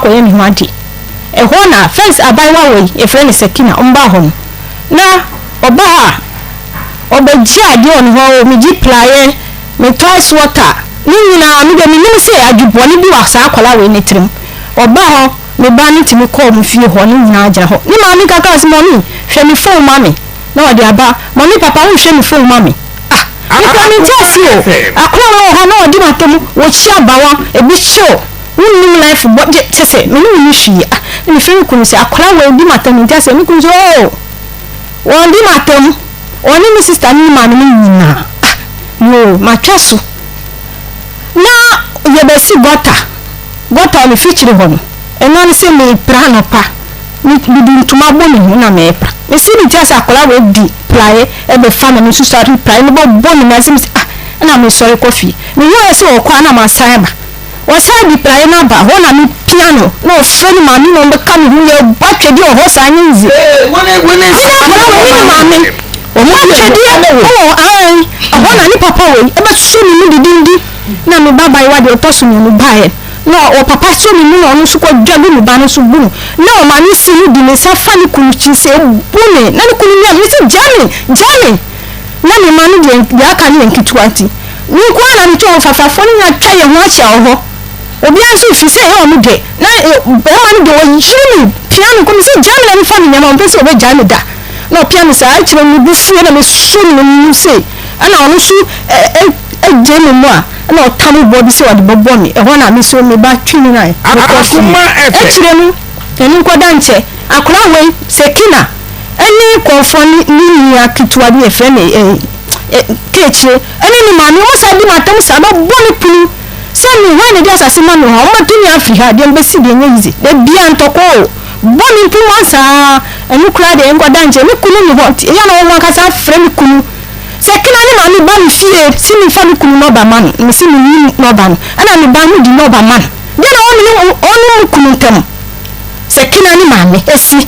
akɔyɛ me ho ade. Ɛhɔ na fɛns abaayewa wei yɛfrɛ no Sakina ɔmbaa hɔ no na ɔbaa a ɔbɛgye adeɛ wɔ me hɔ o, megye plaeɛ, me toys water, ne nyinaa me deɛ menim sɛ adwebɔne bi wɔ saa akwadaa wei ne tirim. Ɔbaa hɔ me ba no tumi kɔɔ me fie hɔ ne nyinaa gyina hɔ ne maame ka kaa sɛ mummy hwɛ me phone ma me na ɔde aba mummy papa wonhwɛ me phone ma me ah me kura me nti ase o akwadaa wɔ hɔ na ɔde m'atamu wɔkyi abawa ebi kyew Wonnim life bɔ gye kyɛsɛ me ne wo nni hwee ah na me frɛ me kunu sɛ akwadaa wei di m'atam nti asɛ me kunu sɛ oo wɔn di m'atam ɔne me sister ne ne maame no nyinaa ah yoo matwa so na yɛbɛsi gɔta gɔta a me fikyiri hɔ no ɛno ano sɛ me pra anɔpa me mede ntoma bɔ me ho na me pra me si ne ti asɛ akwadaa wei di praeɛ ɛbɛfa na me nso sɔre praeɛ no bɔ bɔ ne mu asɛ me sɛ ah na me sɔre kɔ fie me hu ayɛ sɛ ɔkɔ a na masan ba Ɔsan de praeɛ no aba hɔ na mepia no na ɔfrɛ ne maame ma ɔmmɛka me ho, yɛbɔ atwedeɛ wɔ hɔ saa, nyɛ easy. Mene nkwadaa wei ne me maame bɔ atwedeɛ wɔ hɔ, aane, ɛhɔ na ne papa wei bɛsɔ me mu didindi na me ba abaayewa deɛ ɔtɔ so mmienu baeɛ na ɔpapa sɔ me mu na ɔno nso kɔdwa gu me ba no so bu no na ɔmaame si no de ne nsa fa ne kunu tiri sɛ ɛbu me na ne kunu mia me sɛ gya me, gya me. Na me mma no deɛ, deɛ aka no yɛ nketewa nti, me nko ara na metɔ wɔn. Fafafoɔ no nyinaa atwa yɛn ho ahyia wɔ hɔ, obiara nso refiri sɛ ɛyɛ wɔn dɛ. Na barima no deɛ, ɔyere me, pia me kɔ. Mese, Gyae me na memfa me nneɛma. Ɔmpɛ sɛ ɔbɛgyae me da, na ɔpia me saa. Akyire no, me bo fue, na mesɔ ne mu sei, ɛnna ɔno nso gyee me mu a, ɛnna ɔtam boɔ bi sɛ ɔde bɛbɔ me. Ɛhɔ na me nso, me ba twe me nan, mekɔ fie. Akyire no, ɛno nkɔda nkyɛ, akwadaa wei, Sekina. ne nkurɔfoɔ ne ne nua ketewa bi yɛfrɛ no eh, eh, Keekyire ne ne maame wɔn saa di mu atam saa bɛbɔ ne punu sɛ me hwan na di asase ma me hɔ wɔn bɛto me afiri ha deɛ mbɛsi deɛ nyɛ yize da bia ntɔkɔ o bɔ ne punu wɔn saa ɛno koraa deɛ nkɔda nkyɛn me kunu ne hɔ nti ɛyɛ na wɔn ankasa afrɛ me kunu sɛ kena ne maame ba me fie si me fa me kunu nɔba ma no me si me nyi nɔba no ɛna me ba no di nɔba ma no deɛ na wɔn ne wɔn mu kunu ntam sɛ kena ne maame esi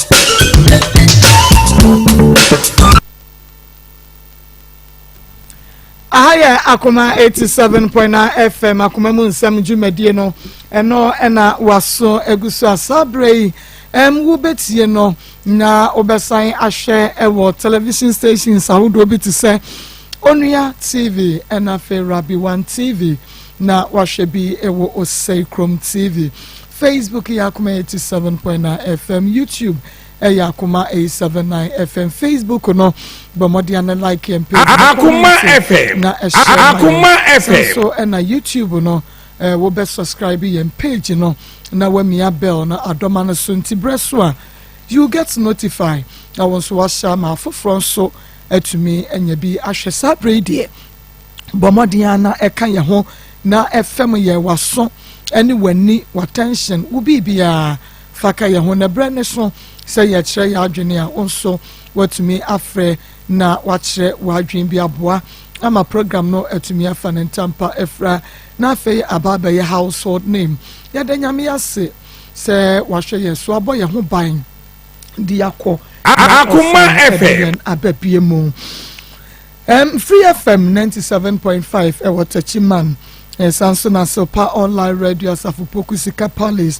aha yɛ akoma eighty seven point nine fm akoma mu nsɛm dwumadie no ɛno ɛna waso egu so asa abere yi ɛm wobɛtie no na wobɛsan ahwɛ ɛwɔ television stations ahodoɔ bi te sɛ onua tv ɛna afei rabi one tv na wahwɛ bi ɛwɔ osei krom tv Facebook yɛ akoma eighty seven point nine FM YouTube ɛyɛ akoma eight seven nine FM Facebook no bɔ mmɔden a ne like yɛn page akoma FM na ɛhyɛ akoma FM so ɛna YouTube no ɛɛ wobɛ subscribe yɛn page no na wamia bell na adɔma no so nti brɛ so a you get notified na wɔn nso wahyɛ ama afoforɔ nso atumi anya bi ahwɛ saa bere yi deɛ. bɔ mmɔden ara na ɛka yɛn ho na ɛfɛm yɛn w'aso ne w'ani w'attention wo biribiara fa ka yɛn ho na berɛ ne so sɛ yɛkyerɛ yɛn adwene a wo nso watumi afrɛ na wakyerɛ w'adwene bi aboa ama program no atumi afa ne ntampa afira na afei aba abɛyɛ household name yɛda nyame ase sɛ wahwɛ yɛn so abɔ yɛn ho ban de akɔ akoma ɛfɛ abɛbie mu Um, Free FM 97.5 ɛwɔ eh, Techiman ɛsan eh, so na Silpa online radio asafo poku sika palace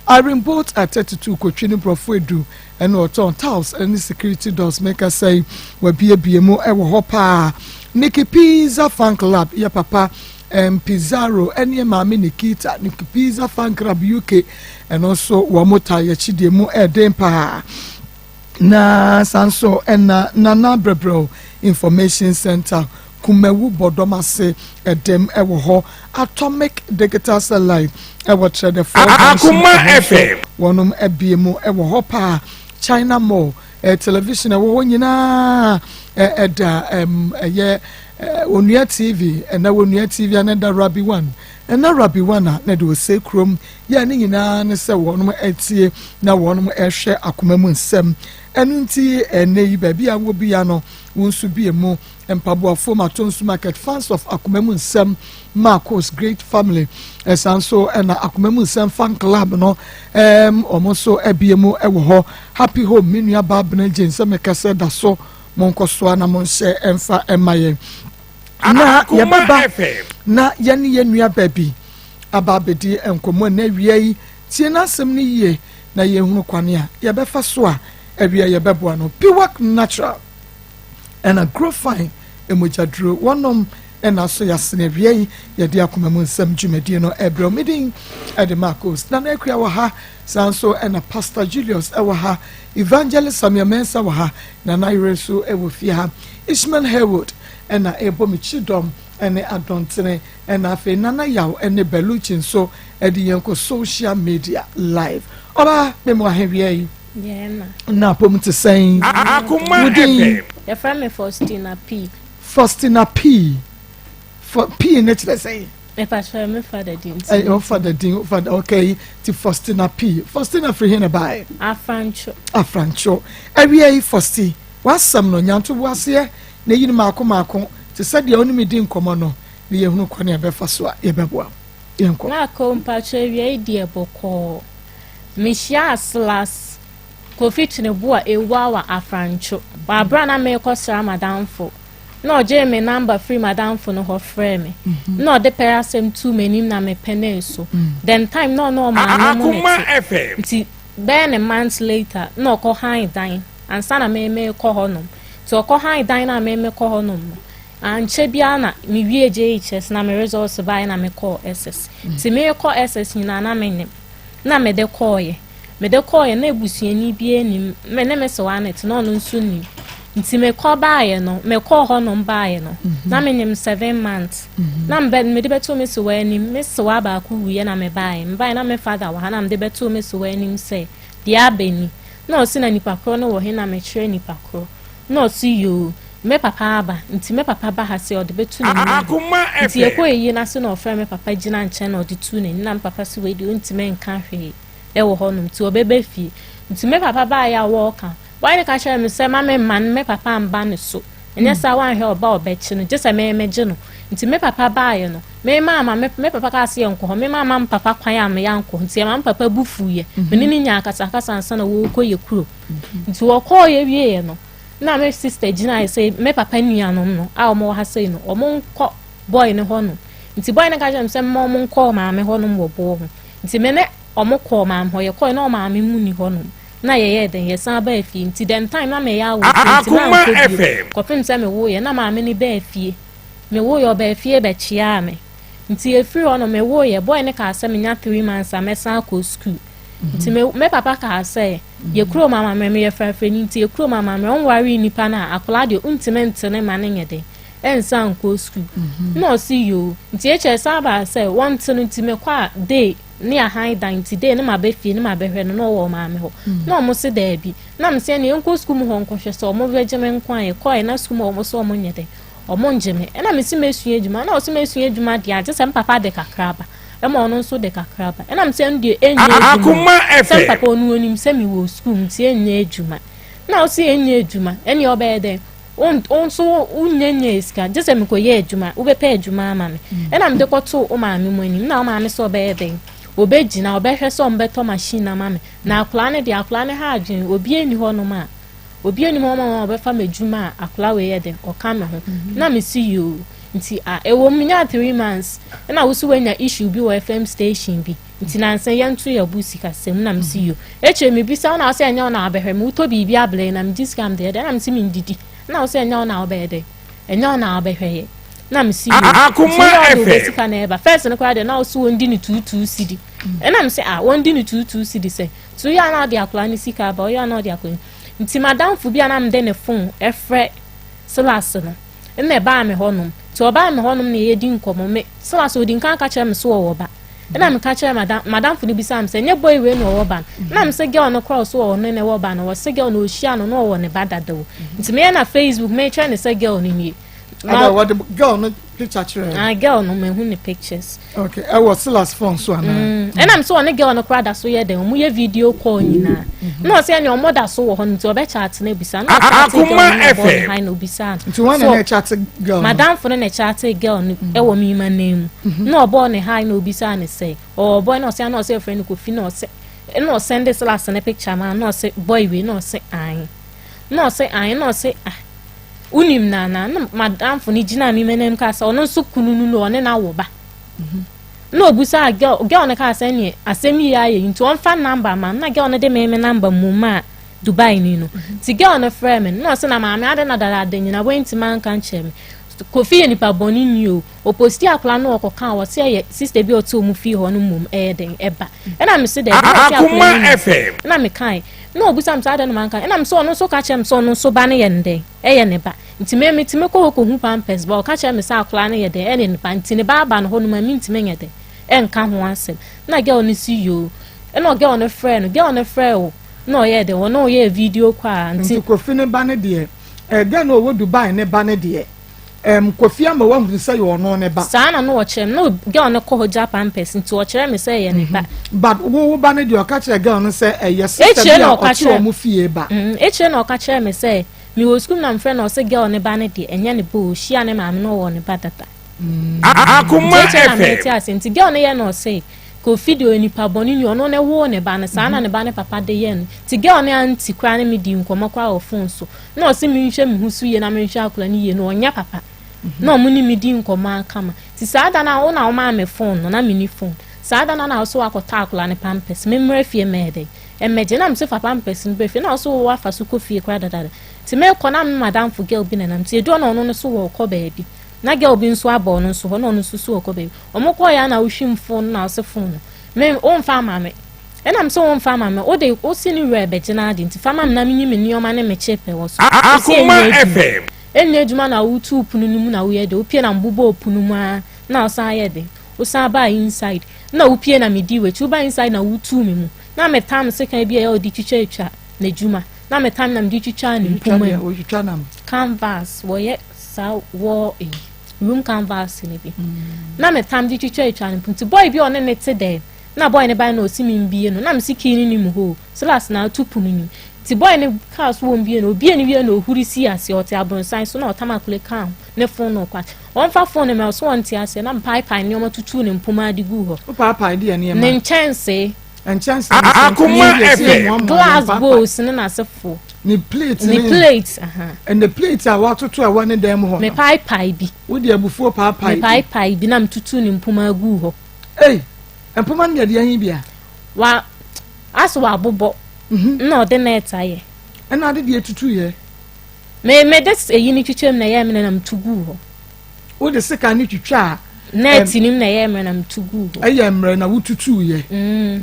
iron bolt at 32 kotwi ne borɔfo edu ɛna ɔtɔn tiles ɛne security doors meka sɛe wabiebie mu ɛwɔ hɔ paa Nikki Pizza Fan Club yɛ papa um, Pizarro ɛne maame Nikita Nikki Pizza Fan Club UK ɛno nso wɔn ta yɛkyi deɛ mu ɛden paa. Na san so na Nana Brɛbrɛw Information Center, Kumawu Bɔdɔm ase dem wɔ hɔ, Atomic Digital Satellite wɔ Kyerɛdɛfoɔ Junction wɔ hɔ nso, wɔnom abie mu wɔ hɔ paa, China Mall, Television ɛwɔ hɔ nyinaa ɛda ɛm ɛyɛ Onua TV, ɛna Onua TV, ɛna ɛda Rabi One. Ɛna Rabbi Wana na deɛ ɔsɛe kurom yɛ ne nyinaa ne sɛ wɔnom atie na wɔnom ɛhwɛ akoma mu nsɛm. Ɛno nti ɛnɛ yi baabi a wɔ bia no wo nso bie mu. Mpaboafoɔ Matonsu Market fans of akoma mu nsɛm Marcos Great Family ɛsan nso ɛna akoma mu nsɛm fan club no ɛɛm wɔn nso abie mu ɛwɔ hɔ. Happy home me nua baa Benegye nsɛm mekasɛ da so mo nkɔsoa na mo nhyɛ ɛmfa ɛma yɛn. na yɛbɛba na yɛne yɛn nua baabi aba abɛdi nkɔmmɔ ɛnna awia yi tie n'asɛm no yie na yɛhunu kwane a yɛbɛfa so a awia yɛbɛboa no piwak natural ɛna grow fine ɛmogyaduro wɔnom ɛna so yɛasene awia yi yɛde akoma mu nsɛm dwumadie no ɛbrɛ medin ɛde marcos na na akua wɔ ha saa nso ɛna pastor julius ɛwɔ ha Evangelist Samuel Mensah wɔ ha na n'ayere nso wɔ fie ha. Ishmael Harewood na ɛrebɔ me kyidɔm ne adɔntene na afei Nana Yaw ne Bellucci nso de yɛn kɔ social media live. Ɔbaa me mu ahewia yi. Na apom te sɛn? Wodin? Yɛfrɛ me Faustina P. Faustina P. P ne kyerɛ sɛn? ɛpatwɛ me fa da din ti ɛyɛ ɔfa da din ɔfa da okay ti Faustina P Faustina firi hin na baayɛ afrancho afrancho awia yi Fausti wasɛm no nyanto bu aseɛ na eyi no maako maako te sɛ deɛ ɔne mi di nkɔmɔ no na yɛhunu kwan a yɛbɛfa so a yɛbɛboa yɛn kɔ. maako mpatwɛ awia yi deɛ bɔkɔɔ mehyia aslas kofi twene bu a ewu awa afrancho wɔ abira na meekɔ sra madamfo. na ɔgyee me namba firi madamfo no hɔ frɛɛ me mhm. na ɔde pɛrɛ asɛm tuu m'anim na mepɛnee so mhm. then time na ɔne ɔmaame mu ne te nti bɛyɛ ne month later na ɔkɔ han dan ansa na meme kɔ hɔ nom nti ɔkɔ han dan na meme kɔ hɔ nom no ankyɛ biara na mewie jhs na me results baeɛ na mekɔɔ ss nti mekɔ ss nyinaa na menim na mede kɔɔyɛ Mede kɔɔeɛ na abusuani biara nnim, me ne me sewa na ɛte na ɔno nso nnim. Nti mekɔ baeɛ no, mekɔɔ hɔnom baeɛ no, mhm. na menim seven months. Mhm. Na mede bɛtoo me sewa anim, me sewa baako wuiɛ na mebaeɛ. Mebaeɛ na me father wɔ ha na mede bɛtoo me sewa anim sɛ, deɛ abɛni. Na ɔsi na nipa korɔ no wɔ he na mekyerɛ nipa korɔ. Na ɔse yoo, me papa aba, nti me papa ba ha se ɔde bɛto ne nua hɔ. Nti yɛkɔ ayie no ase na ɔfrɛ me papa gyina nkyɛn na ɔde tuu n'ani na me papa se wei deɛ ɔntumi nka hwee ɛwɔ hɔ nom nti ɔbɛba fie. Nti me papa baa yɛ a wɔɔka, wɔayɛ no ka kyerɛ me sɛ ma me mma no me papa mba ne so. Ɛnyɛ hmm. saa wanhwɛ ɔba ɔbɛkye no, gye sɛ me megye no. Nti me papa baa yɛ no, me maa ma me, me papa kaa se yɛ nkɔ hɔ, me maa ma me papa kwan a me yɛ ankɔ. Nti yɛ ma me papa bu fuu yɛ, hmm. me ne ne nyaa akasakasa ansa na wɔɔkɔ yɛ kuro. Nti wɔkɔɔeɛ wieeɛ no, na me sister gyinaeɛ sɛ me papa nuanom no a wɔwɔ ha sei no, wɔnkɔ boy no hɔ nom. Nti boy no ka kyerɛ me sɛ mma wɔnkɔ maame hɔ nom wɔ boɔ ho. Nti me ne wɔn kɔɔ maame hɔ, yɛkɔɔe na ɔmaame mu ni hɔ nom. Na yɛyɛɛ dɛn, yɛsan baa fie. Nti dɛm time na meyɛ awo nti mankɔ bio. Kɔpem sɛ mewoeɛ na maame no baa fie. Mewoeɛ ɔbaa fie bɛkyeaa me. Nti ɛfiri hɔ no mewoo yɛ boy no kaa sɛ menya three months a mɛsan akɔ sukuu nti mhm. me papa kaa sɛ mhm. yɛ kurom amammerɛ meyɛ frafrani nti yɛ kurom amammerɛ ɔnwaree nnipa no a akwadaa deɛ ɔntumi nte ne ma no nyɛ dɛ ɛnsa nkɔ sukuu mhm. na ɔsi yoo nti ɛkyɛ san baa sɛ wɔnte no nti mekɔ a day ne ahan dan nti day ne ma bɛ fie ne ma bɛhwɛ no na ɔwɔ maame hɔ na ɔmo se daabi na mo sɛ ne yɛnkɔ sukuu mu hɔ nkɔhwɛ sɛ ɔmo bɛgye me nko a yɛkɔɛ na sukuu mu ɔmo sɛ ɔmo nyɛ dɛ Ɔmo ngye me. Nna mese mesua edwuma. Nna ɔse mesua edwuma deɛ a, gye sɛ m'papa de kakra aba. Ɛma ɔno nso de kakra aba. Nna mese ɛno deɛ ɛnyɛ edwuma o. Akoma FM. Sɛ m'papa ɔno ɔnim sɛ mewɔ sukuu nti ɛnyɛ edwuma. Nna ɔse ɛnyɛ edwuma. Ɛneɛ ɔbɛyɛ dɛn? Wo nso wo nya nya esika. Gye sɛ mekɔ yɛ edwuma. Wo bɛpɛ edwuma ama me. Nna mede kɔ too wo maame mu anim. Nna wo maame sɛ ɔbɛyɛ dɛn? Ɔbɛ gyina, ɔbɛhwɛ sɛ ɔmo bɛtɔ machine ama me. Na akoraa no deɛ, akoraa no ha adwene. Obiaa nni hɔ nom a. obi anim ɔma wɔn a ɔbɛfa me adwuma a akora wei yɛ de ɔka me ho mhm. na me si yoo nti a ɛwɔ mu nya three months ɛna wosi wanya issue bi wɔ fm station bi nti nansa yɛn to yɛ bu sika sɛm na me si mhm. yoo ekyir mi bi sɛ ɔna ɔsɛ ɛnyɛ ɔna abɛhwɛ mi wotɔ biribi abere na me gyi sika mi deɛ ɛdɛ na me si mi ndidi ɛna ɔsɛ ɛnyɛ ɔna ɔbɛyɛ dɛ ɛnyɛ ɔna ɔbɛhwɛ yɛ na me si yoo akoma ɛfɛ sika na ɛba fɛs no koraa deɛ na ɔsi wɔn di ne tuutuu si di ɛna me sɛ a wɔn di ne tuutuu si di sɛ So yɛ a na ɔde akwadaa no sika aba ɔyɛ a na ɔde akɔ nti madamfo bi a na mede ne fon ɛfrɛ Silas no ɛna ɛbaa me hɔnom nti ɔbaa me hɔnom na yɛdi nkɔmmɔ me Silas odi nka ka kyerɛ me so ɔwɔ ba ɛna meka kyerɛ madam madamfo no bisa me sɛ nyɛ boy wei na ɔwɔ ba no na me sɛ girl no korɔ so ɔwɔ no na ɛwɔ ba no wɔ sɛ girl na ɔhyia no na ɔwɔ ne ba dada o nti meyɛ na Facebook mekyerɛ ne sɛ girl no nie ɛna wɔde girl no picture kyerɛ ah girl no ma ehu ne pictures. okay ɛwɔ silas phone so ana. Mm. ɛnna mi sɛ ɔne girl no kora da so yɛ dɛ ɔmo yɛ video call nyinaa mm-hmm. na ɔsɛ ɛni ɔmo da so wɔ hɔ no nti ɔbɛ chat na ebisa na ɔchat girl no na bɔ ne han na obisa no. nti wɔn na na chat girl no. madam fo no na chat girl no mm-hmm. ɛwɔ mi ma nan mu mm-hmm. na ɔbɔ ne han na obisa ne sɛ ɔbɔ na ɔsɛ ɛna ɔsɛ ɛfrɛ no kofi na ɔsɛ ɛna ɔsɛ ɛnde silas ne picture ma na ɔsɛ boy wei na ɔsɛ an. na ɔse ae na ɔse ah wonim nana na madamfo no gyina me manam kaa sɛ ɔno nso kunu no no ɔne no awo ba mhm. na obusaa girl girl no kaa sɛ neɛ asɛm yi ayɛ yi nti ɔmfa namba ma na girl no de me me namba mu maa dubai ni no mhm. nti girl no frɛ me na ɔse na maame ade na dada ade nyina woanti manka nkyerɛ me kofi yɛ nipa bɔne ni o Opostii akwadaa no ɔkɔkaa wɔse ɛyɛ sister bi a ɔte ɔmo fie hɔ no mmom ɛyɛ den ɛba ɛna me se dɛ ɛna ɔhwɛ akwadaa no nim sɛ ɛna me kae na ɔbusa me sɛ adɛn na manka ɛna me sɛ ɔno nso ka kyerɛ me sɛ ɔno nso ba no yɛ no dɛn ɛyɛ ne ba nti me me ti me kɔ hɔ kɔhu pampers ba ɔka kyerɛ me sɛ akwadaa no yɛ dɛn ɛne ne ba nti ne ba aba no hɔ no ma me ntumi nyɛ dɛn ɛnka ho asɛm na girl no si yoo ɛna girl no frɛ no girl no frɛ o na ɔyɛ dɛn ɔno ɔyɛ video kɔ a nti kofi ne ba no deɛ ɛdɛn na ɔwɔ Dubai ne ba no deɛ Um, Kofi ama wahunu sɛ yɛ ɔno ne ba. Saa na no wɔkyerɛ me. No girl no kɔ hɔ gya pampers nti wɔkyerɛ me sɛ yɛ ne ba. Mhm. But wo wo ba no deɛ ɔka kyerɛ girl no sɛ ɛyɛ sista bi a ɔte wɔn fie ba. Mhm. Ekyire na ɔka kyerɛ me sɛ me wɔ sukuu na mfrɛ na ɔsɛ girl ne ba no deɛ ɛnyɛ ne ba o hyia ne maame no ɔwɔ ne ba dada. Mm. Akoma ɛfɛ. Ekyire na mɛte ase nti girl no yɛ na ɔsɛ kofi deɛ onipa bɔne ni ɔno ne woo ne ba no saa na mhm. ne ba ne papa de yɛ no nti girl no anti koraa ne me di nkɔmɔ koraa wɔ phone so. na ɔse menhwɛ me ho so yie na menhwɛ akora no yie no ɔnyɛ papa mhm. na ɔmo ne me di nkɔmɔ akama ti saa da no wo na ɔmaa me fon no na meni fon saa da no na ɔso wakɔtɔ akora ne pampers memmra fie mɛyɛ dɛ ɛmɛgye na mese fa pampers no bɛ fie na ɔso wɔ afa so kɔ fie kora dadada ti mekɔ na me madamfo girl bi nanam ti edu ɔna ɔno no so wɔ ɔkɔ baabi na girl bi nso abɔ ɔno nso hɔ na ɔno nso so ɔkɔ baabi ɔmo kɔɔ yɛ na wohwim fon no na ɔse fon no me womfa ama me Ɛna me se wo mfa ma me, wo de, wo se ne wura bɛgye no ade nti fa ma me na me nyi me nneɛma ne me kye pɛ wɔ so. Akoma FM. Ɛnyɛ adwuma na wo tu pono no mu na wo yɛ de, wo pie na me bobɔɔ pono mu aa na wo san yɛ de, wo san baa inside na wo pie na me dii w'akyi, wo ba inside na wo tuu me mu na me tam sekan bi a ɛyɛ a ɔde twitwa atwa na adwuma na me tam na me de twitwaa ne mpoma mu, canvas wɔ yɛ saa wɔ eyi room canvas ne bi mm. na me tam de twitwa atwa ne mpoma, ti boy bi a ɔne ne te dɛ na boy ne bae na ɔse menbie no na mese key no ni mu hoo slas na ato pono nim nti boy ne kaa so wɔmbie no ɔbie no wie na ɔhuri sii aseɛ ɔte abronsan so na ɔtam akole kaa ho ne fon no ɔkɔ ɔmfa fon no mɛ ɔso ɔnte aseɛ na mpaepae nneɛma tutuu ne mpoma ade guu hɔ ne nkyɛnsee akoma ɛpɛ glass bowls ne n'asefoɔ ne plate ne plate ɛnna plate a watoto a wɔne dan mu hɔ no mepaapae bi wode abufuo paapae bi mepaapae bi na metutu ne mpoma agu hɔ ei mpoma no deɛ deɛ ahi bia wa aso wabobɔ mhm. na ɔde na ɛta yɛ ɛna ade deɛ tutu yɛ me me de eyi ne twitwam na ɛyɛ me na metu gu hɔ wode sika ne twitwa a nɛɛti nim na ɛyɛ mmerɛ na metu gu hɔ ɛyɛ mmerɛ na wotutu yɛ mm.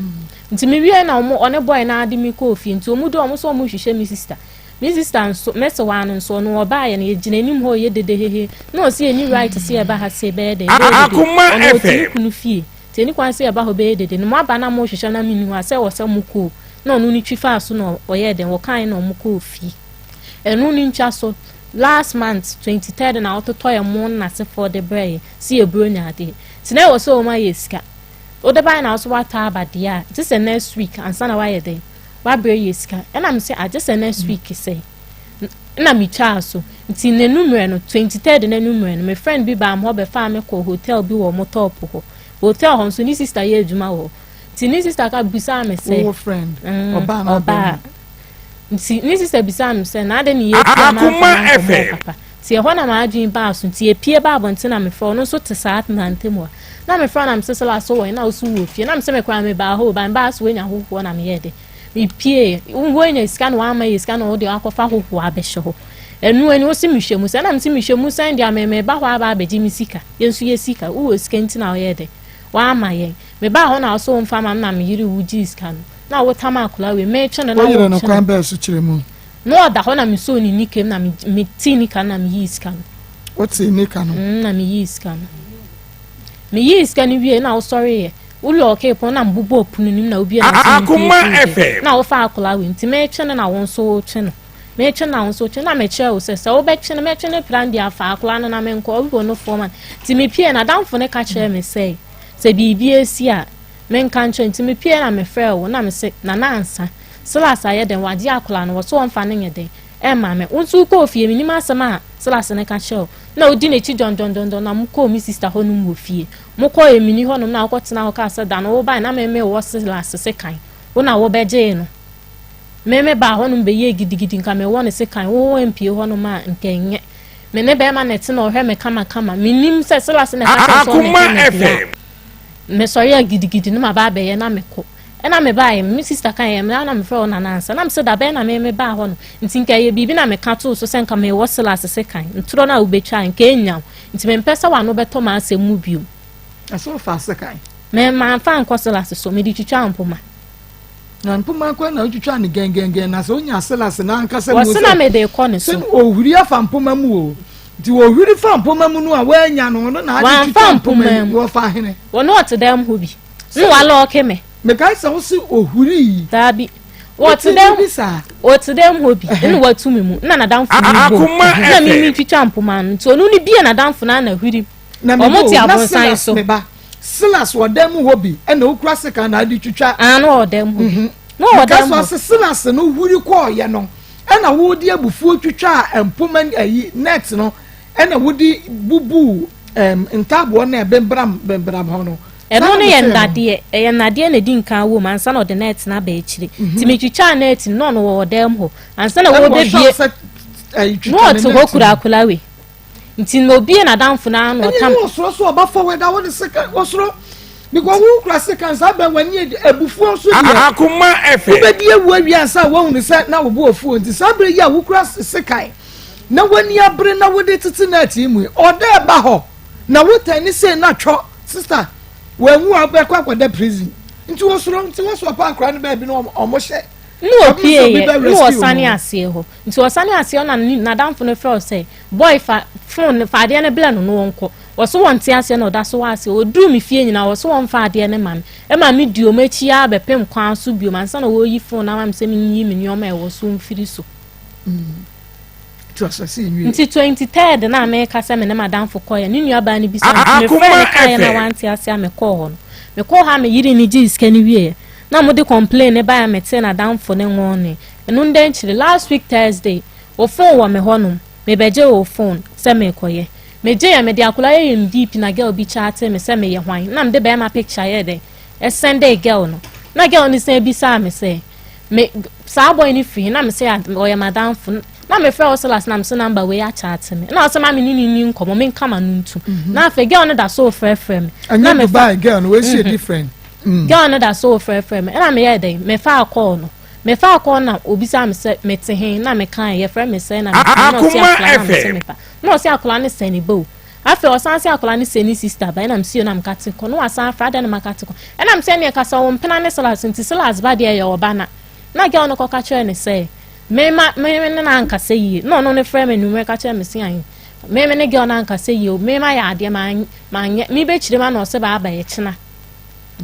nti mewie na ɔne bɔe na ade me kɔɔ fie nti ɔmu dɔ ɔmo sɛ ɔmo hwehwɛ me sista Me sister nso, mɛsewaa no nso, ɔno ɔbaeɛ no, yɛgyina anim hɔ reyɛ dede hehe, na ɔse yɛnni right sɛ yɛba ha se bɛyɛ dɛn, bɛyɛ dede, Akoma ɔno ɔte ne FM. kunu fie, nti ɛnni kwan sɛ yɛba hɔ bɛyɛ dede, na moaba na morehwehwɛ na menni hɔ a, sɛ ɛwɔ sɛ mokɔ o, na ɔno no twi faa so na ɔyɛɛ dɛn, ɔkaeɛ na wɔkɔɔ fie. Ɛno no ntwa so, last month, twenty third na ɔtotɔeɛ mo ne n'asefoɔ de brɛeɛ, se yɛ buro ne adeɛ, nti na ɛwɔ sɛ wɔma yɛ sika, wode baeɛ na wo nso woatɔ aba deɛ a, gye sɛ next week ansa na woayɛ dɛn, wabrɛ yɛ sika ɛna me sɛ agye sɛ next week sɛ na metwaa so nti n'anummerɛ no 23 n'anummerɛ no me friend bi baa hɔ bɛfaa me kɔ hotel bi wɔ motɔp hɔ hotel hɔ nso ne sista yɛ adwuma wɔ nti ne sista ka bisaa me sɛ mm, ɔbaa nti ne sista bisaa me sɛ na ade ne yɛ akoma fm Te ɛhɔ na m'adwene baa aso nti yɛpue baa abɔnten na mefrɛ ɔno nso te saa tena ntam hɔ na mefrɛ na mesesɛ laso wɔn na woso wɔ fie na mesɛ mekora mebaa hɔ ba mebaa so wɔanya hohoɔ na meyɛ dɛ mepue wɔanya sika na wɔama yɛ sika na wɔde akɔfa hohoɔ abɛhyɛ hɔ ɛno ani wosi mehwɛ mu sɛ na mesi mehwɛ mu sɛn deɛ meba hɔ aba abɛgye me sika yɛn nso yɛ sika wowɔ sika nti na wɔyɛ dɛ wɔama yɛn mebaa hɔ na wɔso wɔmfa ma me na meyere wogye sika no na wotam akora wei metwe no na wɔtwe no kwan bɛɛ so kyerɛ mu Na ɔda hɔ na mesoo ne nika mu na metee nika no na meyii sika no. Wotee nika no? Mm, na meyii sika no. Meyii sika no wie na wosɔreeɛ. Wolɔɔkee pon na mbobɔɔ pono no mu na wobie na wosii mfie fie na wofa akwadaa wei nti metwe no na wo nso wotwe no. Metwe no na wo nso wotwe na mekyerɛ wo sɛ sɛ wobɛtwe no mɛtwe no pram de afa akwadaa no na menkɔ ɔbi wɔ no fɔm a nti mepie na damfo no ka kyerɛ me sɛ sɛ biribi asi a Menka nkyerɛ nti mepiee na mefrɛɛ wo na mese Nana Ansa, Silas ayɛ dɛn, wagye akwadaa no, wɔse wɔmfa no nyɛ dɛn mma me, wo nso wokɔɔ fie, menim asɛm a Silas no ka kyerɛɛ wo na wodi n'akyi dɔndɔndɔndɔn na mokɔɔ me sista hɔnom wɔ fie, mokɔɔ Emini hɔnom na wokɔtenaa hɔ kaa sɛ da no wobae na me mewɔ Silas sekan, wo na wobɛgyee no. Me mebaa hɔnom bɛyɛɛ gidigidi nka mewɔ no sekan, wo wampie hɔnom a nka ɛnyɛ me ne bɛrima na ɛte na ɔhwɛ me kamakama, menim sɛ Silas na ɛka kyerɛ sɛ ɔne ɛka na bia. mesɔre a gidigidi na maba abɛyɛ na mekɔ ɛna mebaeɛ me sista ka yɛ na mefrɛ wo nana ansa na mesɛ da bɛn na me mebaa hɔ no nti nka ɛyɛ biribi na meka too so sɛ nka mewɔ silas se kan ntorɔ no a wobɛtwa nka ɛnya wo nti mempɛ sɛ wano bɛtɔ ma asɛm mu biom ɛsɛ wofa se kan mamfa nkɔ silas so mede twitwa mpoma na mpoma kwan na otwitwa ne gɛngɛngɛn na sɛ onya selase n'ankasa mu sɛ sɛ ohwiri afa mpoma mu o nti ohwiri fa mpoma mu no a wanya no ɔno na ade twitwa mpoma mu wɔfa hene wɔne ɔte dɛm ho bi ne wala ɔke me mekae sɛ wo se ohwiri yi daabi wɔte dɛm wɔte dɛm hɔ bi ɛna watu me mu na nadamfo no bɔ na me me twitwa mpoma no nti ɔno ne bie nadamfo no ana hwiri wɔn te abonsan so. Silas wɔ dan mu hɔ bi ɛna okura sekan na adi twitwa. Aa ah, na ɔwɔ dan mu hɔ bi. Mhm. Na ɔwɔ dan mu hɔ. Kasi ɔsi Silas no huri kɔɔ yɛ no ɛna wɔde abufuo twitwa mpoma ayi net no ɛna wɔde bubu ɛm ntaaboɔ na ɛbɛnbram bɛnbram hɔ no. ɛno no yɛ nnadeɛ ɛyɛ nnadeɛ na ɛdi nkan wɔ mu ansa na ɔde net no aba akyire mhm. tìmí twitwa net no na ɔwɔ dan mu hɔ ansa na wɔbɛbie na ɔte hɔ kura akolawe. nti na obi yɛ n'adamfo na ano ɔtam. ɛnyɛ ɔsoro so ɔba fam ɛda hɔ ne sika ɔsoro because wo kura sika nsa bɛn wɔn ani abufuo nso deɛ akoma ɛfɛ wobɛdi ewu awia nsa wɔn ne sɛ na wɔbu ofuo nti saa bere yi a wokura sika na wani abere na wode tete na ati mu ɔda ɛba hɔ na wotɛn ne sɛ na twɔ sista wɔn mu a bɛkɔ akɔda prison nti wɔsoro nti wɔsoro pa akora ne baabi na wɔn hyɛ. ne opie yɛ ne wɔsane aseɛ hɔ. Nti ɔsane aseɛ ɔna nadamfo no frɛ ɔsɛ boy fa phone no fa adeɛ no blɛ no no wɔnkɔ wɔso wɔn te aseɛ na ɔda so wɔ aseɛ ɔduru me fie nyina wɔso wɔn fa adeɛ no ma me ɛma me di ɔmo akyi ara bɛpem kwan so biom ansa na wɔyi phone ama me sɛ menyi me nneɛma ɛwɔ so mfiri so mm. nti 23 na meka sɛ me ne madamfo kɔyɛ ne nuabaa no bi sɛ mefrɛ ne kaeɛ na wante ase a mekɔɔ hɔ no mekɔɔ hɔ a meyere ne gyee sika no wieɛ na mode complain ne baeɛ metee nadamfo ne nwɔne Ɛno ndɛ nkyere last week Thursday wo phone wɔ me hɔ nom me bɛ gye wo phone sɛ me kɔ yɛ me gye yɛ me de akola yɛ yɛ me deep na girl bi chatee me sɛ me yɛ hwan na me de bɛɛma picture yɛ dɛ ɛsɛn dɛ girl no na girl no sɛ bi saa me sɛ me saa boy no firi na me sɛ ɔyɛ madamfo na me frɛ ɔsɛlas na me sɛ number wei achatee me na ɔsɛ ma me ne ne ni nkɔmɔ me nkama no ntu mhm. na afɛ girl no da so frɛ frɛ me na me fa girl no wei si mhm. different mm. girl no da so frɛ frɛ me na me yɛ dɛ me fa akɔɔ no Mefaa kɔɔ na obisaa me sɛ mete he na mekae, yɛfrɛ me sɛɛ na mete he na ɔse akwadaa na mese me ba. Na ɔse akwadaa no sɛ ne ba o. Afei ɔsan se akwadaa no sɛ ne sista ba, nna mese o na meka te kɔ. Na wasan afrɛ adɛn na maka te kɔ. Nna mese ɛneɛ kasa wo mpena ne Silas nti Silas ba deɛ yɛ ɔba na. Na girl no kɔka kyerɛɛ ne sɛ me ma me ne no ankasa yie na ɔno no frɛ me anwummerɛ ka kyerɛ me se ahe me me ne girl no ankasa yie o me ma yɛ adeɛ manyɛ mebɛkyire ma na ɔse baaba yɛkyena.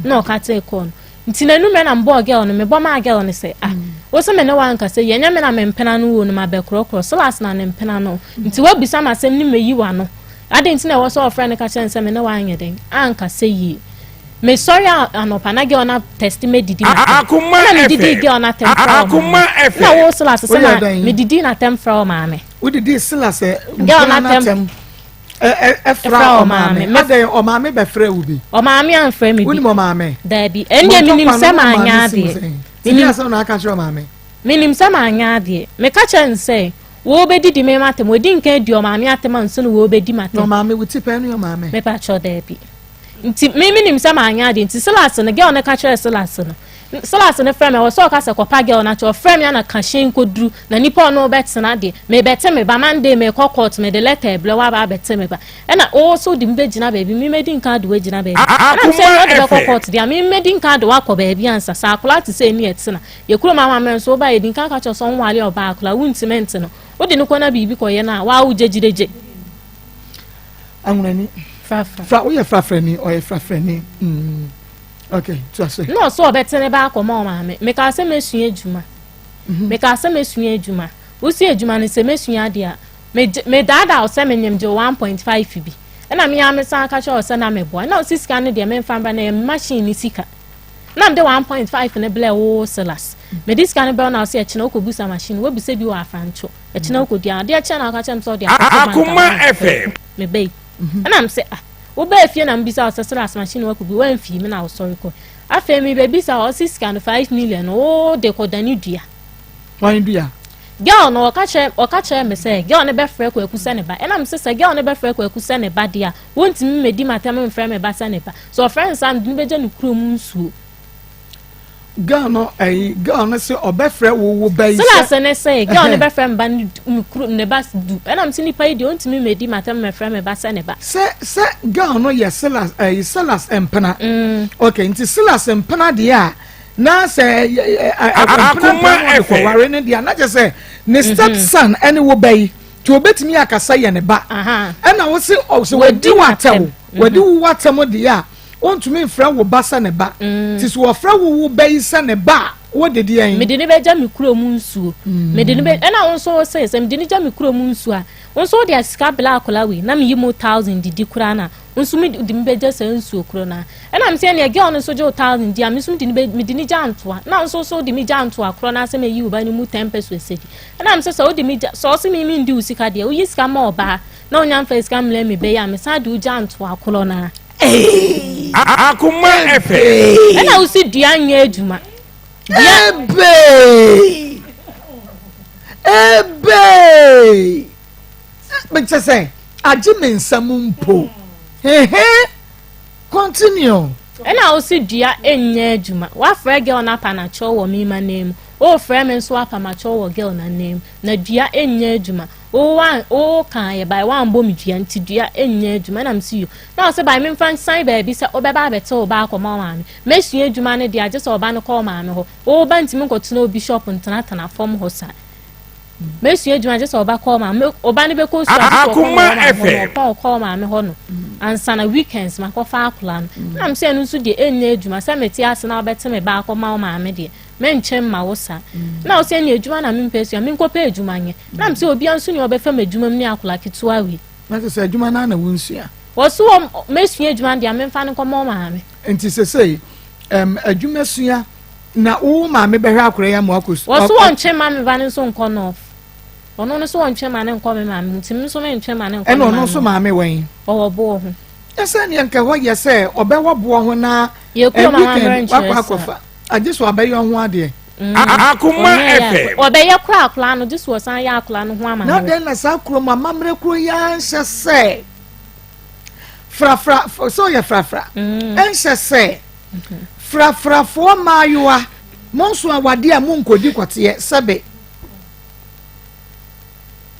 na ɔka kyerɛ kɔɔ no nti na enumɛ na mbɔɔ gɛl no mebɔ maa gɛl no sɛ ah wosi me ne wa nkasa yi ɛnyɛ me na me mpena no wuo no ma bɛkorɔkorɔ silas na ne mpena no nti wabisa ma asɛm ne meyi wa no ade nti na ɛwɔ sɛ ɔfrɛ no ka kyerɛ no sɛ me ne wa anyɛ dɛn ankasa yie mesɔre anɔpa na gɛl na tɛsti me didi na tɛm na medidi gɛl na tɛm fra wɔ maame na wo silas sɛ na medidi na tɛm fra wɔ maame wodidi silas gɛl na tɛm ɛfra ɔmaame adɛn ɔmaame bɛfrɛ wo bi ɔmaame amfrɛ me bi wonim ɔmaame daabi ɛndeɛ menim sɛ maanyɛ adeɛ menim asɛm na aka kyerɛ ɔmaame menim sɛ maanyɛ adeɛ meka kyerɛ ne sɛ wɔbɛdidi me matam wɔdi nka adi ɔmaame atam anso no wɔbɛdi matam ɔmaame wo ti pɛɛ ne ɔmaame mepakyɛ daabi Nti me menim sɛ manyɛ ade nti Silas no girl no ka kyerɛ Silas no Silas no frɛ me ɛwɔ sɛ ɔka sɛ kɔpa girl no akyɛ ɔfrɛ me ana ka hyɛn kɔduru na nipa ɔno bɛtena deɛ mebɛte me ba Monday mekɔ court mede letter ɛbrɛ waba abɛte me ba ɛna ɔwɔ sɛ ɔde me bɛgyina baabi me mɛdi nka de wagyina baabi ɛna mesɛ ɛna ɔde bɛkɔ court deɛ me mɛdi nka de wakɔ baabi ansa sɛ akora te sɛ ɛni ɛtena yɛ kurom amammerɛ nso woba yɛdi nka ka kyɛ sɛ ɔnwale ɔbaa akora wontimi nte no wode no kɔ na biribi kɔyɛ no a waa wogyegyidegye awunani fra woyɛ frafrani ɔyɛ frafrani mm. okay to ase. na ɔsɛ ɔbɛte ne ba akɔma ɔmaame mekaa sɛ mɛsua adwuma mhm. mekaa sɛ mɛsua adwuma wosi adwuma no sɛ mɛsua adeɛ a medaadaa wo sɛ menyem gye 1.5 bi ɛna mea me san ka kyerɛ wo sɛ na meboa ɛna ɔsi sika no deɛ memfa mbra na ɛyɛ machine ne sika na mede 1.5 no blɛ wo silas mede sika no bɛw na ɔsɛ ɛkyena wokɔbusa machine wabisa bi wɔ afranto ɛkyena wokɔdi a adeɛ kyɛ na woka kyerɛ m sɛ wode akoma fm mebɛi mhm. ɛna m sɛ ah wobɛɛ fie na mebisa wo sɛ soro asomakye ne wakɔ bi woamfii me na wosɔre kɔ afei mebɛbisa wɔ ɔse sika no 5 million wode kɔdane dua wan dua girl no ɔka kyerɛ ɔka kyerɛ me sɛ girl no bɛfrɛ kwaku sɛ ne ba ɛna me sɛ sɛ girl no bɛfrɛ kwaku sɛ ne ba deɛ a wontumi mmɛdi m'atɛm mfrɛ me ba sɛ ne ba sɛ ɔfrɛ no saa mede no bɛgya ne kurom nsuo girl no ɛyi eh, girl no sɛ ɔbɛfrɛ wo wo bɛyi sɛ sɛlase ne sɛ girl no bɛfrɛ mba ne kuru ne ba du ɛnam sɛ nipa yi deɛ ɔntumi mɛdi matam mɛfrɛ me ba sɛ ne ba sɛ sɛ girl no yɛ sɛlas ɛyi sɛlas mpena mm. ok nti sɛlas mpena deɛ a na sɛ akoma ɛfɛ wɔware no deɛ na kyɛ sɛ ne mhm. step son ɛne wo bɛyi nti obetumi akasa yɛ ne ba ɛna wo se ɔsɛ wadi wo atɛw wadi wo atɛm deɛ a wontumi mfrɛ wo ba sɛ ne ba mm. nti so wɔfrɛ wo wo ba yi sɛ ne ba a wode deɛ yi mede ne bɛgya me kuro mu nsuo mm. mede ne bɛ ɛna wo nso wo sɛ sɛ mede ne gya me kuro mu nsuo a wo nso wode asika bela akɔla wei na meyi mu thousand didi koraa na wo nso mede me bɛgya saa nsuo kuro no a ɛna me sɛ ɛneɛ girl no nso gye wo thousand di a me nso mede ne gya ntoa na wo nso so wode me gya ntoa korɔ no asɛ mayi wo ba no mu ten pɛso asɛdi ɛna me sɛ sɛ wode me gya sɛ ɔse me mendi wo sika deɛ woyi sika ma ɔbaa na wonya mfa sika mmlɛ me bɛyi a mesan de wo gya ntoa korɔ no a Akoma ɛfɛ. Ɛna wosi dua nyɛ adwuma. Ebe. Ebe. Mekyɛ sɛ agye me nsam mpo. Hehe. Continue. Ɛna wosi dua nyɛ adwuma. Wafrɛ girl no apa n'akyɛw wɔ me ma nan mu. Wofrɛ me nso apa m'akyɛw wɔ girl no anan mu. Na dua nyɛ adwuma. wo wan wo ka yɛ bai wan bɔ me dua nti dua ɛnyɛ adwuma ɛna msi yo na ɔsɛ bai memfa nsan baabi sɛ wobɛba abɛte wo ba akɔma maame mɛsua adwuma no deɛ agye sɛ ɔba no kɔ wo maame hɔ wo ba ntimi nkɔtena wo bishop ntenatena fam hɔ saa mɛsua adwuma agye sɛ ɔba kɔ maame ɔba no bɛkɔ sua agye sɛ ɔkɔ maame hɔ no ɔpɔn ɔkɔ maame hɔ no ansa na weekends makɔfa akora no na mesɛ ɛno nso deɛ ɛnyɛ adwuma sɛ mete ase na wobɛte me ba akɔma wo maame deɛ mɛnkyɛ mma wo sa na wo sɛ ne adwuma na mempɛ sua menkɔpɛ adwuma nyɛ na m sɛ obia nso ne ɔbɛfa m'adwuma mu ne akola ketewa wei na sɛ sɛ adwuma no na wonsua wɔso wɔ mɛsua adwuma deɛ memfa no nkɔma wo maame nti sɛsei um, adwuma sua na wo maame bɛhwɛ akora yi ama wakɔ sua wɔso wɔntwe ma me ba no nso nkɔ nɔf ɔno no so wɔntwe ma no nkɔ me maame mu nti me nso mentwe ma no nkɔ ɛna ɔno nso maame wɔn ɔwɔ boɔ ho ɛsɛ neɛ nka hɔ yɛ sɛ ɔbɛwɔ boɔ ho na ɛbi kɛn wakɔ akɔfa agye so abɛyɛ ho adeɛ akoma ɛpɛ ɔbɛyɛ kora akora no gye so ɔsan yɛ akora no ho ama na dɛn na saa kuro mu amammerɛ kuro yi anhyɛ sɛ frafra sɛ ɔyɛ frafra ɛnhyɛ sɛ frafrafoɔ mmaayewa monso awadeɛ a monkɔdi kɔteɛ sɛbe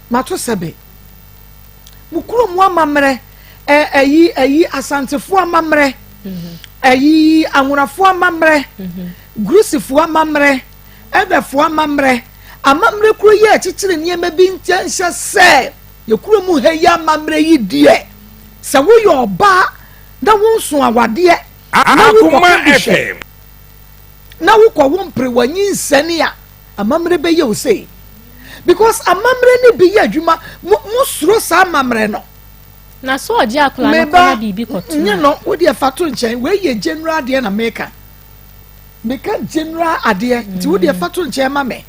mato sɛbe mo kuro mu amammerɛ ɛyi ɛyi asantefoɔ amammerɛ ɛyi mhm. anwonafoɔ amammerɛ mhm. gurusifoɔ amammerɛ ɛbɛfoɔ amammerɛ amammerɛ kuro yi a ɛkyekyere nneɛma bi nkyɛn nhyɛ sɛ yɛ kuro mu ha yi amammerɛ yi deɛ sɛ woyɛ ɔbaa na wonso awadeɛ na wokɔ kɔhwɛ na wokɔ wo mpere w'anyi nsɛne a Amammerɛ bɛyɛ wo sei because amammerɛ no bi yɛ adwuma mo mo suro saa amammerɛ no. na so ɔgye akora no kɔ na biribi kɔto nye no wo deɛ fa to nkyɛn wei yɛ general adeɛ na meka meka general adeɛ nti wo deɛ fa to nkyɛn ma me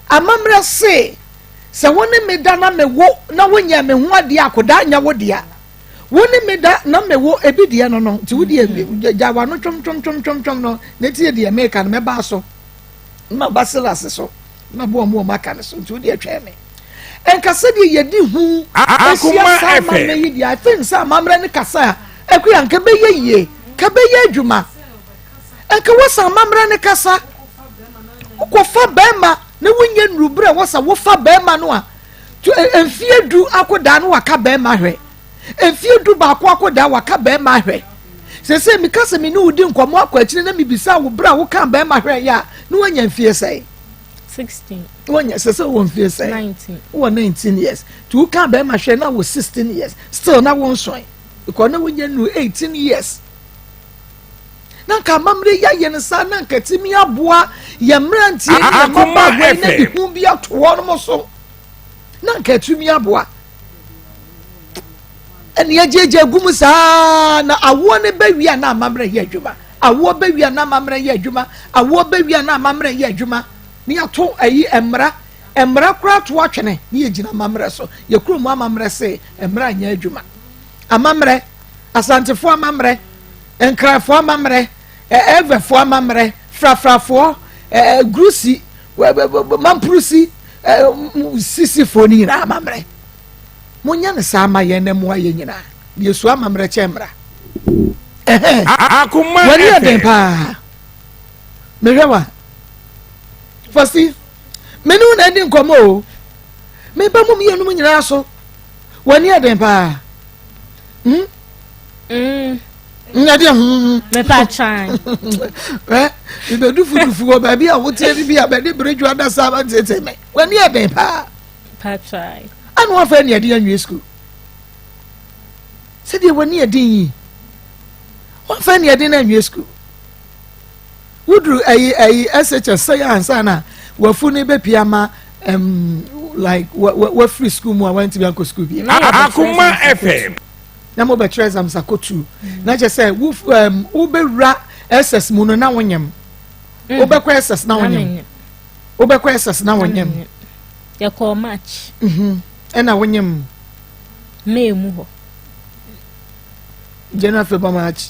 amammerɛ se sɛ wo ne me da na me wo na wonyɛ me ho adeɛ akodaa nyɛ wo deɛ wo ne me da na me wo ebi deɛ no no nti wo deɛ gya wano twom twom twom twom twom no na tie deɛ meka no mɛbaa so. na maba Silas so na maboa wɔn a wɔaka no so nti wode atwɛn me ɛnka sɛdeɛ yɛdi ho ahyia saa amammerɛ yi deɛ i think sɛ amammerɛ no kasa a akua nka bɛyɛ yie ka bɛyɛ adwuma nka wosa amammerɛ no kasa wokɔfa bɛrima na wonyɛ nnuruberɛ a wosa wofa bɛrima no a mfie du akɔdaa no waka bɛrima hwɛ mfie du baako akɔdaa waka bɛrima ahwɛ sese meka sɛ me ne wo di nkɔmmɔ akɔ akyire na mebisa wo berɛ a woka bɛrima hwɛ yɛ a na woanya mfie sɛe woanya sɛ sɛ wɔ mfie sɛe wɔ 19 years nti woka bɛrima hwɛ na wɔ 16 years still na wonsoe because na wonya nu 18 years na nka amammerɛ yi ayɛ no saa na nka tumi aboa yɛ mmeranteɛ ne yɛ mmabaawa yi na de hu bi ato hɔ nom so na nka atumi aboa ɛne agyagya gu mu saa na awoɔ no bɛwie a na amammerɛ yɛ adwuma awoɔ bɛwie a na amammerɛ yɛ adwuma awoɔ bɛwie a na amammerɛ yɛ adwuma ne yɛato ayi mmara mmara koraa to atwene ne yɛgyina amammerɛ so yɛkuro mu amammerɛ se mmara nyɛ adwuma amammerɛ asantefoɔ amammerɛ nkrafoɔ amammerɛ ɛɛvɛfoɔ amammerɛ frafrafoɔ ɛɛ gurusi mampurusi sisifoɔ no nyinaa amammerɛ monyɛ no saa ma yɛn na mmoa yɛn nyinaa na yɛsu amammerɛ kyɛ mmara wani yɛ den paa mehwɛ wa fɔsi mene wo na adi nkɔmmɔ o meba mu mmienu mu nyinaa so wani yɛ den paa Hmm? Mm. nyɛ deɛ ho mu mepatwan ɛ mebɛdu fudufu wɔ baabi a woteɛ no bi a bɛde beredwo adasa aba tete me w'ani ɛden paa patwan ana wafa ne ɛden anwie sukuu sɛdeɛ w'ani ɛden yi wafa ne ɛden anwie sukuu woduru ɛyi ɛyi ɛsɛkyɛ sɛ yɛ ansa na wafu ne bɛ pia ma ɛm like wa wa wafiri sukuu mu a wantumi akɔ sukuu bi. akoma fm. na mo bɛ kyerɛ exam sa kɔ tu na kyɛ sɛ wo ɛm wo bɛ wura ɛsɛs mu no na wo nyɛm mm. wo bɛ kɔ ɛsɛs na wo nyɛm wo bɛ kɔ ɛsɛs na wo nyɛm. yɛ kɔɔ march. Mhm. ɛna wo nyɛm. may mu hɔ. january february march.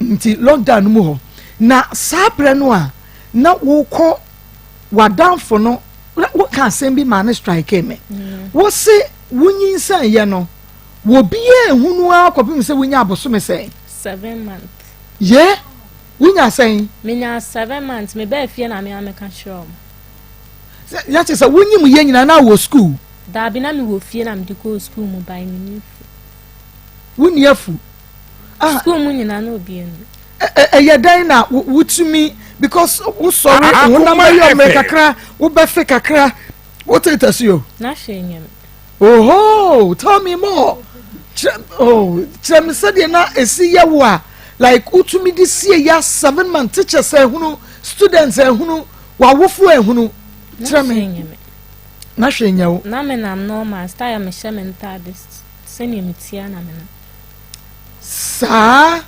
nti lockdown no mu hɔ na saa berɛ no a na wokɔ w'adamfo no woka asɛm bi maa ne strike me mm. wo se wonyinsɛn yɛ no wɔbiaa ehunu ara kɔpem sɛ wonya abosome sɛn seven month yɛ wonya sɛn menya seven months mebɛɛ fie na mea meka kyerɛ m yɛkye sɛ wonyim yɛ nyina na wɔ skuul daabi na mewɔ fie na mede kɔɔ skuul mu bae menni afu wonni afu Sukuu mu nyinaa na obiara nim. ɛyɛ dɛn na wotumi because wosɔre honam bɛyɛ ɔmɛ kakra wobɛfe kakra wotetɛ so yo oho tell me more kyerɛ me sɛdeɛ na ɛsi yɛ wo a like wotumi de sie ya seven month teachers ahunu students ahunu wawofo ahunu kyerɛ me na hwɛ nya wo na menam normal style mehyɛ me ntade sɛnea metia na menam saa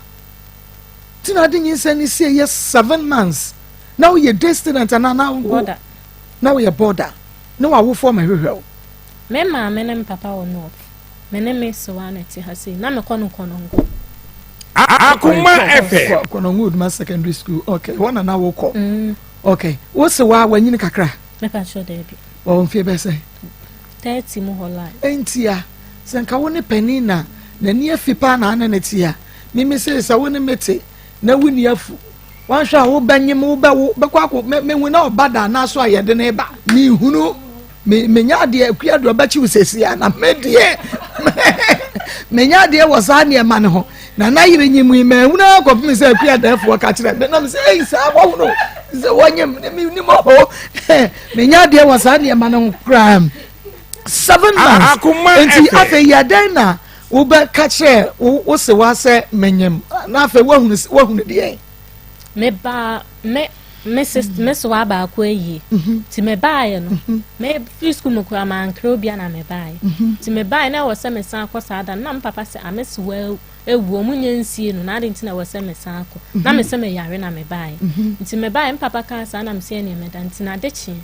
nti na ade nyinsɛn ne sie yɛ seven months na woyɛ day student anaa na wo na woyɛ border ne w'awofoɔ ma hwehwɛ wo. me maame ne mpapa wɔ north me ne me sewa na ɛte ha sei na mekɔ no kɔnɔngo. akoma ɛfɛ. kɔnɔngo oduma secondary school okay wɔn na na wokɔ. Mm. okay wo sewa wanyini kakra. mepatwɛ daabi. wɔn mfie bɛsɛ. 30 mu hɔ line. Entia, sɛ nka wo ne panin na n'ani afi paa na ane ne te a, mimi se sɛ wo ne me te na wuni afu. Wanhwɛ a wobɛnyem wobɛwo bɛkɔ akɔ mehu na ɔba da na so a yɛde ne ba mehunu menya adeɛ akua deɛ ɔbɛkyew sɛsi a na medeɛ menya adeɛ wɔ saa nneɛma no ho Na na yere nyim yi mɛhunu ara kɔpem sɛ akua dɛɛfoɔ ka kyerɛ me na me sɛ ei saa wɔhunu sɛ wɔnyem ne menim ɔho menya adeɛ wɔ saa nneɛma no ho koraa m seven months nti afei yɛ dɛn na wobɛka kyerɛ wo se wa sɛ menyem na afei woahunu deɛ mebaa me me sis mm. me soa baako ayie mhm. nti mebaeɛ no mhm. mefiri sukuu mu koraa mankere obia na mebaeɛ mhm. nti mebaeɛ na ɛwɔ sɛ mesan akɔ saa da no na me papa sɛ ame soa awuo ɔmo nyɛ nsie no na ade nti na ɛwɔ sɛ mesan akɔ na me sɛ meyare na mebaeɛ nti mebaeɛ me papa kaa saa na mesɛ ɛneɛ meda nti na ade kyeɛ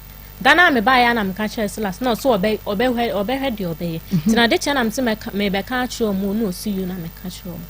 da no a mebaeɛ a na meka kyerɛ silas na ɔso ɔbɛhwɛ deɛ ɔbɛyɛ nti na ade kyeɛ na mese mebɛka akyerɛ ɔmo na ɔsi yio na meka kyerɛ ɔmo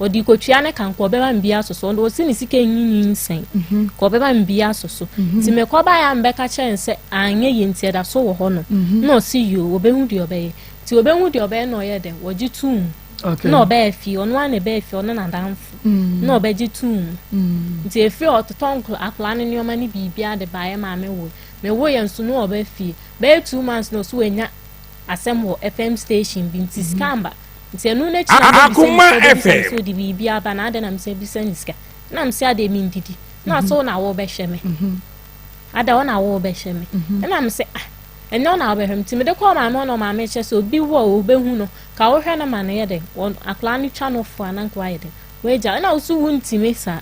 ɔde kɔtwea ne kan kɔ ɔbɛma mbia so so ɔsi ne sika nyi nyinsɛn mhm. kɔ ɔbɛma mbia so so mhm. nti mekɔbaeɛ a mbɛka kyerɛ n sɛ anyɛ yie nti ɛda so wɔ hɔ no mhm. na ɔsi yio wɔbɛhu deɛ ɔbɛyɛ nti wɔbɛhu deɛ ɔbɛyɛ na ɔyɛ dɛ wɔgye to mu na ɔbɛyɛ fie ɔno ara na ɛbɛyɛ fie ɔno n'adanfo mm. na ɔbɛgye to mu mm. nti efiri ɔtotɔ akwadaa ne nneɛma ne biribi ade baeɛ maame wo mewo yɛn nso na ɔbɛ fie bɛyɛ two months na ɔso wɔ anya asɛm wɔ fm station bi nti sika mba. Nti ɛno no akyi na mebisa ne sika, obebisa ne sɛ ɔde biribi aba na adɛn na mesa bisa ne sika. Na mese adeɛ mendidi. Na ɔse wo na wobɛhwɛ me. Ada wo na wobɛhwɛ me. Ɛna mese ah ɛnyɛ wo na wobɛhwɛ me. Nti mede kɔɔ maame hɔ na maame kyɛ sɛ obi wɔ a ɔbɛhu no. Ka wohwɛ no ma no yɛ dɛn. Akwadaa no twa no fo a na nka wayɛ dɛn. Wagya ɛna wo so wontumi saa.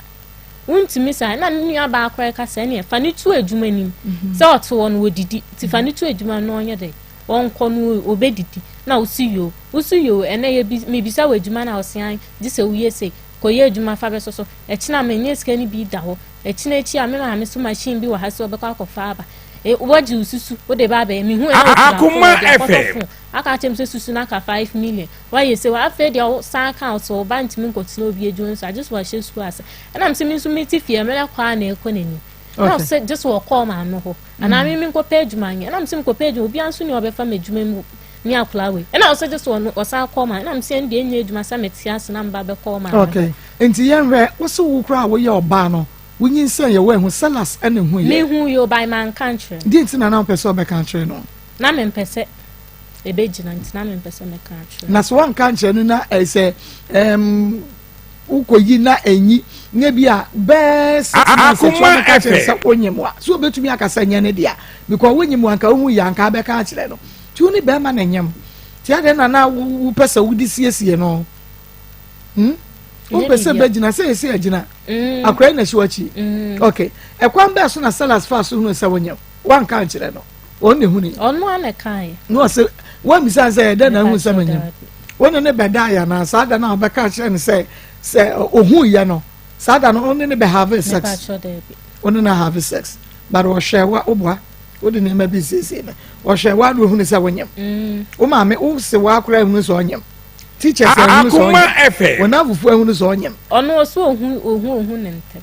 Wontumi saa ɛna me nua baa koraa ka sɛ ɛneɛ fa no tu adwuma nim. Sɛ ɔte hɔ no wɔdidi. Nti fa no tu adwuma no na ɔnyɛ dɛn. wɔnkɔ no obedidi na wosi yoo wosi yoo ɛnɛ yɛ bi mebisa wɔ adwuma na ɔsean gye sɛ woyɛ sei kɔyɛ adwuma fa bɛso so ɛkyena menyɛ sika no bi da hɔ ɛkyena akyi a me maame so machine bi wɔ ha sɛ ɔbɛkɔ akɔfa aba e, wɔgye wo susu wode ba abɛyɛ mehu ɛna ɔkura fo akɔtɔ fo aka akyɛm sɛ susu no aka 5 million wayɛ sɛ afei deɛ ɔsan ka sɛ ɔba ntumi nkɔtena obi adwuma nso agye so wahyɛ sukuu ase ɛnam sɛ me nso mete fie mmerɛ kɔ a na ɛkɔ n'anim na sɛ gye so ɔkɔɔ maame hɔ Anaa me menkɔpɛ adwuma nyɛ. Ɛna mese mekɔpɛ adwuma, obiara nso ni ɔbɛfa me adwuma mu ne akwadaa wei. Ɛna ɔsɛ gye so ɔno ɔsan akɔ ɔman. Ɛna mese ɛnde ɛnyɛ adwuma sɛ mete ase na mba bɛkɔ ɔman. Okay, nti yɛnhwɛ wose wo koraa a woyɛ ɔbaa no wonyinsɛn yɛ woanhu Silas ɛna ehu yɛ. Mehu yɛ o by manka nkyerɛ no. Deɛ nti na na ɔmpɛ sɛ ɔbɛka akyerɛ no? Na mempɛ sɛ ɛbɛgyina nti na mempɛ sɛ mɛka akyerɛ no. Na sɛ woanka nkyerɛ no na ɛsɛ ɛɛm. Wokɔ yi na enyi nye bi a bɛs. Akoma ɛpɛ. Sɛ wonye mu a so obetumi akasa nyɛ ne dea because wonye mu anka ohun yɛ anka abɛka akyerɛ no ti wo ne bɛrima na nyam ti adɛ na na wopɛ sɛ wode siesie no hmm wopɛ sɛ bɛgyina sɛ yɛsi agyina mm. akora yi na ɛhyɛ wakyi mm. ok ɛkwan bɛɛ so na salas fa so hunu sɛ wonyam wanka nkyerɛ no wɔn na ehuni. ɔno ara na ɛka yɛ. na ɔsɛ wɔn bisa sɛ ɛdɛ na ehu sɛ menyim wɔn ne ne bɛ da yɛ na saa da na ɔbɛka akyerɛ no sɛ sɛ ohun yɛ no saa da no wɔn ne ne bɛ have sex wɔn ne na have sex but ɔhwɛ wa ɔboa wode nneɛma bi siesie no ɔhwɛ wa na ohun sɛ wɔnyam mm. wɔn maame wose wa akora ehun sɛ ɔnyam teachers ehun sɛ ɔnyam wɔn afufu ehun sɛ ɔnyam. ɔno ɔsɛ ohun ohun ohun ne ntɛm.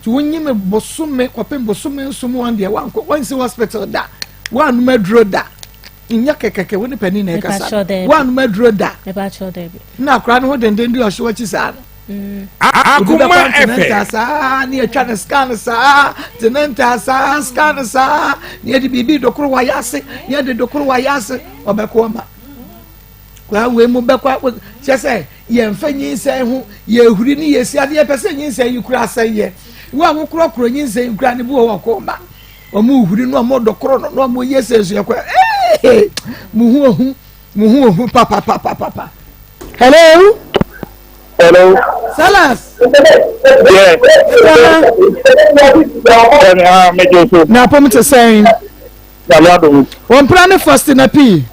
nti wonyi me bosome kɔpem bosome nso mu wɔn deɛ wankɔ wansi hospital da wanum aduro da nyɛ kɛkɛkɛ wo ne panin na ɛkasa wanum aduro da na akora no ho denden di ɔhyew akyi saa no akoma ɛfɛ saa ne atwa ne scan saa tenenta saa scan saa ne yɛde biribi dokoro wayɛ ase ne yɛde dokoro wayɛ ase ɔbɛko ama Koraa wei mu bɛkɔ akɔ kyɛ sɛ yɛmfa nyinsɛn ho yɛhuri ne yɛsi ade yɛpɛ sɛ nyinsɛn yi kura asɛn yɛ wo a wokorɔkorɔ nyinsɛn yi kura ne bi wɔ hɔ kɔɔ ma wɔn huri no wɔn dɔkorɔ no na wɔn yɛ sɛ so yɛkɔ ee mo ho ohu mo ho ohu papapapapa hello hello salas yeah ɛkɔ ha na apɔm te sɛn. Nyame adom nti. Wɔn mpena ne Fosti na pii.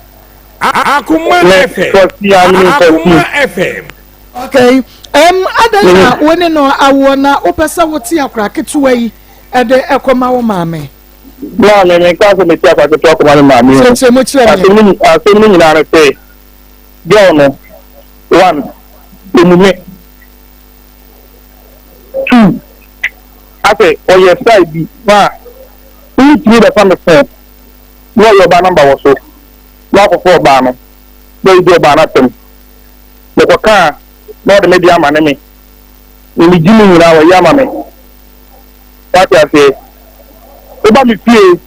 Akoma FM. Fosti a menim Fosti. Akoma FM. Okay. Um, adan na mm-hmm. wo ne no awoɔ na wopɛ sɛ wote akora ketewa yi ɛde ɛkɔma wo maame. Naa mi mi nka sɛ mi ti akora ketewa kɔma ne maame o. Kyerɛkyerɛ mu kyerɛ mi. Asɛm ne nyinaa no sɛ girl no one emume two. Afei ɔyɛ style bi paa. Wotumi bɛfa me phone na ɔyɛ ɔbaa number wɔ so na wakɔfa ɔbaa no na ɔredi ɔbaa no asɛm. Mekɔka a na ɔde me deɛ amane me. Deɛ megye mu nyinaa wayi ama me. Woate aseɛ? Woba me fie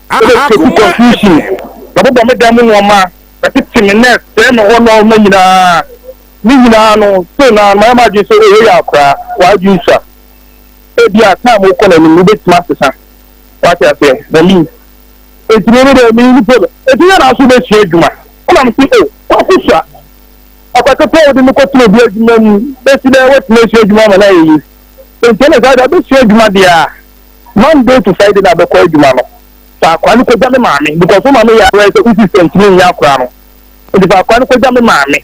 na wobɛ create confusion, bɛbobɔ me dan mu nnoɔma, bɛtete me na ɛsɛe me hɔ nnoɔma nyinaa. Ne nyinaa no still no ara mayɛ m'adwene sɛ oh wei yɛ akwadaa, w'adwene sua. ebia time kɔ n'anim no wobɛtumi asesa, wate aseɛ, Berlin, nti me deɛ me mpo no, ɛti yɛ na nso wobɛsua adwuma, wonam se o, kwaku sua, ɔkɔtotɔ wode no kɔtena obi adwuma mu, bɛsi dɛ woatumi asua adwuma ama no ayɛ yi, nti ɛne saa deɛ wobɛsua adwuma deɛ a, Monday to Friday na bɛkɔ adwuma no, fa akwa no kɔgya me maame, because wo maame yɛ awerɛ sɛ wo sister ntumi nyɛ akora no, nti fa akwa no kɔgya me maame.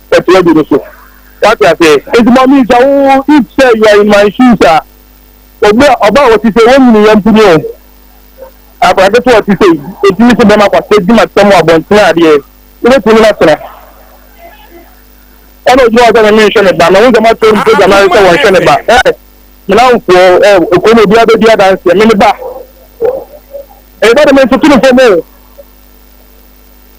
Ɛtoa du no so. Wate aseɛ? Enti ma mintwa wo if sɛ you are in my shoes a, obi a ɔba a ɔte sei, wonnyini yɛn mpo ni o. Akwadaa ketewa a ɔte sei, otumi te bɛrima kwasea adwuma te sɛ mo abɔntene adeɛ, wobɛtumi ne no atena? Ɛna ogyina hɔ sɛ me menhwɛ ne ba, mahu sɛ moakyerɛ ne program ayɛ sɛ wɔnhwɛ ne ba. Ɛɛ, me namfoɔ, ɛɛ, kurom obiara bɛdi adanseɛ, me ne ba. Ɛyɛ dɛ de mentoto no fam o.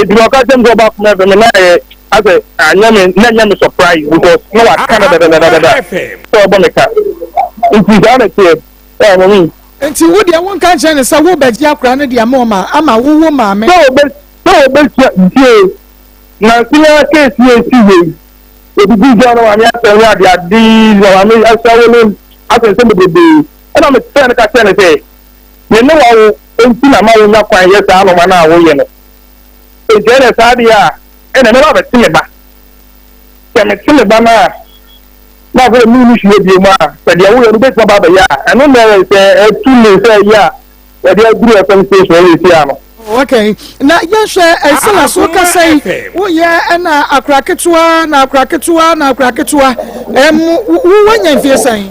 Eti na ɔka kyerɛ me sɛ ɔba akoma ɛfɛ me na ɛyɛ asɛ anyɛ me na ɛnyɛ me surprise because na waka no dadadadada sɛ ɔbɔ me ka. Nti saa na ɛteɛ ɛɛ mami. Nti wo deɛ wo nka nkyerɛ no sɛ wo bɛ gye akora no deɛ mo ma ama wo wo maame. Sɛ ɔbɛ sɛ ɔbɛ sua ntie nansi na case yɛ si yɛ yi ebi bi sɛ ɔno maame asɛ ho ade ade na maame asɛ wo ne asɛ nsɛm bebrebe ɛna me sɛ no ka kyerɛ no sɛ me ne wa wo. Enti na ma wonya kwan yɛ saa anoma no a woyɛ no. Enti ɛnna saa deɛ a, ɛnna mɛba abɛte me ba. Sɛ mete me ba no a, na afei deɛ menni hwee bio mu a, sɛ deɛ woyɛ no wobɛtumi aba abɛyɛ a, ɛno na ɛyɛ sɛ ɛtu me sɛ ɛyɛ a wɔde aduru ɛfam station hɔ wei sei ano. Okay, na yɛnhwɛ Estela so kasa yi, woyɛ ɛna akora ketewa na akora ketewa na akora ketewa, ɛm, wowɔ nya mfie sɛn?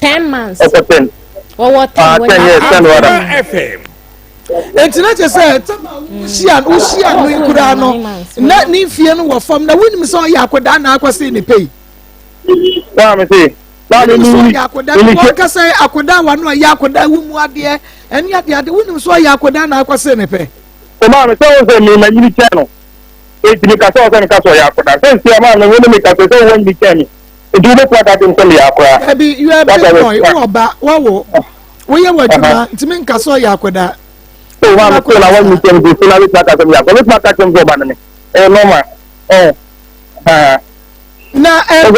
ten months ɔkɔ ten wɔwɔ ten ah, wɔn yɛ ten fm nti na kyɛ sɛ hyia no wohyia no nkuraa no na ne mfie no wɔ fam na wonim sɛ ɔyɛ akɔdaa na akɔ se ne pɛi akɔda akɔda wa no ɔyɛ akɔda wo mu adeɛ ɛne adeɛ ade wonim sɛ ɔyɛ akɔda na akɔ se ne pɛ ɔmaa me sɛ wo sɛ mema nyini kyɛn no ɛtumi ka sɛ ɔsɛ meka sɛ ɔyɛ akɔda sɛ nsia maa me wo ne meka sɛ sɛ wowɔ nyini kyɛn me Nti wobɛtumi aka sɛ nsɛm yɛ akora. Dabi, you are a big boy, wowɔ ba, wawo, woyɛ w'adwuma, nti menka sɛ ɔyɛ akwadaa. So wa mpo na wɔn nsɛm bi so na wobɛtumi aka sɛ ɔyɛ akora. Wobɛtumi aka sɛ ɔba no ne, ɛyɛ nɔɔma. Na ɛyɛ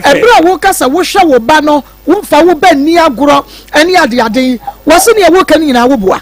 ɛberɛ a woka sɛ wohwɛ wo ba no, womfa wo ba nni agorɔ ne adeade yi, wɔse nea woka no nyinaa woboa.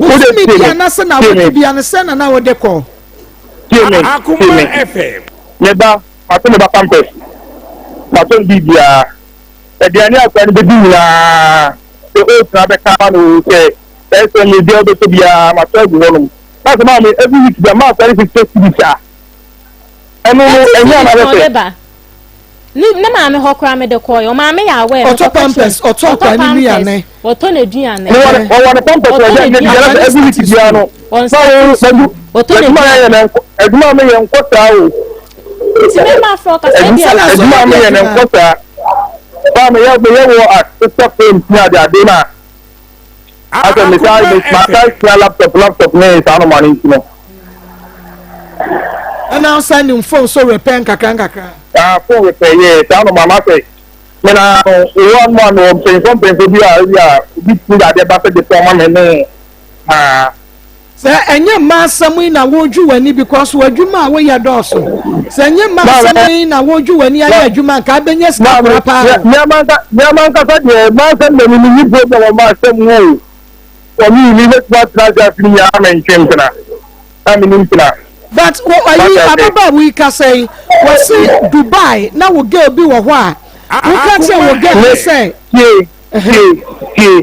Bosome bia na sɛ na awɔtwe bia no sɛ na na wɔde kɔ. Akoma FM. Ne ba fato ne ba pampers fato ne biribiara aduane akora no bɛdi nyinaa sɛ oats na bɛka ma no sɛ ɛsɛ ne deɛ wobɛsɛ biara matɔ agu hɔnom na sɛ maa me every week bia maa akora no fifty cities a ɛno no ɛnyɛ anabɛsɛ Ne ne maame hɔ koraa mede kɔɔ yɛ ɔmaame yɛ awɛ. Ɔtɔ pampers ɔtɔ akwa ne nuane. Ɔtɔ ne duane. Wɔwɔ ne pampers ɔyɛ ne biara sɛ ɛgu wiki biara no. Ɔnsa ne sukuu. Ɔtɔ ne duane. Adwuma mi yɛ nkɔ saa o. Nti mi ma fɔ kasa ebi a. Adwuma mi yɛ ne nkɔ saa. Baa mi yɛ mi yɛ wɔ asesa fɛn ti ade ade na. asɛ metaa metaa sua laptop laptop ne saa no ma no nti no ɛna nsa nim fon so repɛ nkakra nkakra ah fon repɛ yɛ saa no ma ma sɛ mena no owó anu anu mpanyinfo mpanyinfo bi a ebi a obi ti de adeɛ ba sɛ de fɔn ma me ne aa. Sɛ ɛnyɛ mma asɛm yi na woredwi w'ani because w'adwuma a woyɛ dɔɔso. Sɛ ɛnyɛ mma asɛm yi na woredwi w'ani ayɛ adwuma nka abɛnya sika kora paa o. Meama ankasa deɛ mma asɛm deɛ menni problem wɔ mma asɛm mu o. Wɔ me yi mebɛtumi atena ase afe nyinaa mentwe mpena. Na menni mpena. But ayi ababaawa yi kasa yi wɔse Dubai na wo girl bi wɔ hɔ a woka kyerɛ wo girl no sɛ. Tie tie tie.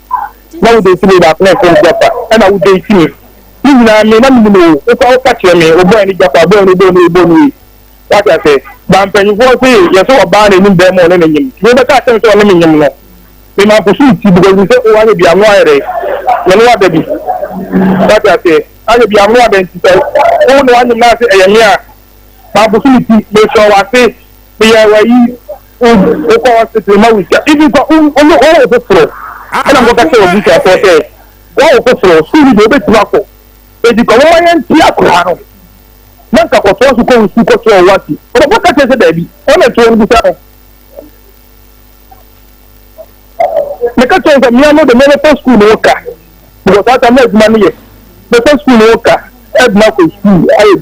na wo date me baako na ɛfrɛ Japa ɛna wo date me ne nyinaa me na menim o wo kora woka kyerɛ me ɔbɔɛ ne Japa bɔɛ no bɔɔ no ɔbɔ no yi wate asɛ ba mpanyinfoɔ se yɛ sɛ ɔbaa na anim bɛrima ɔne ne nyem tumi bɛka akyɛ me sɛ ɔne me nyem no me ma nkoso me ti because me sɛ o ahwɛ bi ano ayɛ dɛ me ne wada bi wate asɛ ahwɛ bi ano ada nti sɛ wo ne wanyem no ase ɛyɛ me a ma nkoso me ti mesrɛ wase meyɛ wayi wokɔ hospital ma wogya ibi kɔ ɔno ɔwɔ foforɔ ɛna nkɔka sɛ wɔbu sɛ ɛfɔ sɛ wɔwɔ foforɔ sukuu bi deɛ wobɛtumi akɔ ɛdi kɔ wɔma yɛnti akora no na nka kɔtoa so kɔ wo sukuu kɔtoa wo wasi ɔbɛbɔ ka kyerɛ sɛ daabi ɔna ɛtoɔ no bisa no meka kyerɛ sɛ mmea no de mɛbɛfa sukuu no wo ka because ata na adwuma no yɛ mɛfa sukuu no wo ka ɛdena kɔ sukuu ayɛ